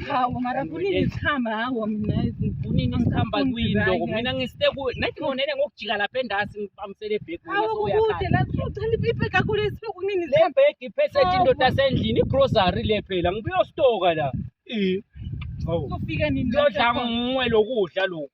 hawu mara kunini zikhamba hawo mina kunini sikhamba kuyini loko mina ngisite ku nathi ngonele ngokujika lapha endasi ngibambisele ibhegi mina hawu soya kude la sicela ibhegi kakhulu esibe kunini le bhegi iphethe indoda sendlini igrocery le phela ngibuyostoka la eh hawu kufika nini lodla ngwe lokudla lokho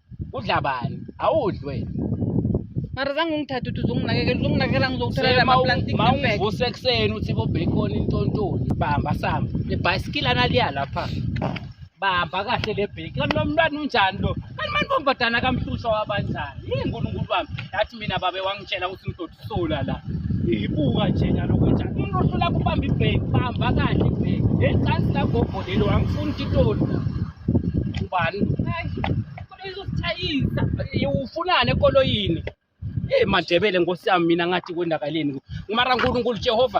udla bani awudli wena mara zange ungithathe uthi uzonginakekela uzonginakekela ngizokuthola Sema lama u- plastic ma bag ungivuse ekuseni uthi bobhekoni intontoni bamba samba ibhayisikili analiya lapha bamba kahle le bheki kanti lo mntwana unjani lo kanti mani bombadana kamhlushwa wabanjani yini nkulunkulu wami yathi mina babe wangitshela ukuthi umdoti sola la ibuka nje nyalo kwenja umruhlu la kubamba ibheki bamba kahle ibheki lecansi la gogo lelo angifuni titoli ubani izosithayisa ufunani ekoloyini eyi mandebele nkosi yami mina ngathi kwendakaleni mara nkulunkulu jehova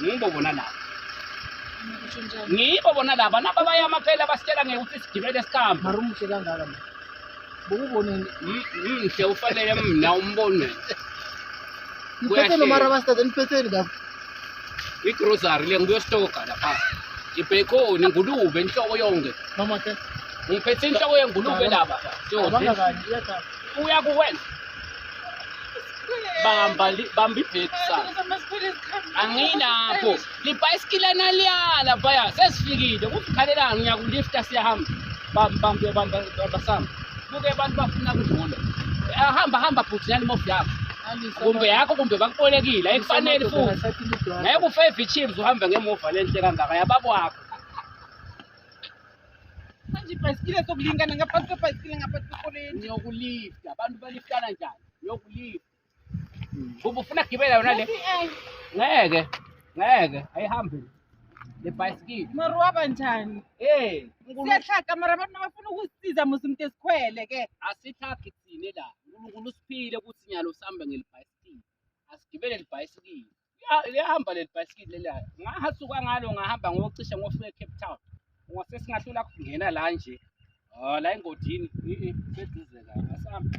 ngibo bona laba ngibo bona laba naba bayama phela basitshela ngeke ukuthi sigibele sihambe mara umuhle kangaka ma bokuboneni mhle ufanele mna umbone niphetheni mara basithathe niphetheni ngakho igrosary le ngibuyostoka lapha ibhekoni ngulube inhloko yonke mama ke ngiphethe inhloko yengulube laba uyakuwenza bamba bamba ibhedi sana anginakho libhayisikile naliyala baya sesifikile kufikhalelani ngiyakulifta siyahamba bambambe bamba bamba sama kuke abantu bafuna kudlula ahamba ah, hamba bhuti nani mofu yakho kumbe yakho kumbe bakubolekile ayikufanele futhi ngeke ufe ivichims uhambe ngemuva lenhle kangaka yabakwakho Manje ibhayisikile sokulingana ngaphansi kwebhayisikile ngaphansi kwekoleni. Ngiyokulifta. Abantu baliftana njani? Ngiyokulifta. Bubu ufuna kugibela yona le? Ngeke. Ngeke. Ayihambi. Le bhayisikile. Mara waba njani? Eh. Siyahlaka mara abantu bafuna ukusiza musi umuntu esikhwele ke. Asihlaki thina la. uNkulunkulu usiphile ukuthi nyalo sihamba ngelibhayisikile. Asigibele libhayisikile. Ya- liyahamba leli bhayisikili leliya ngahasuka ngalo ngahamba ngocishe ngofika ecape town ngase singahlula kungena la nje Ah, la engodini i- i, seduze la asambe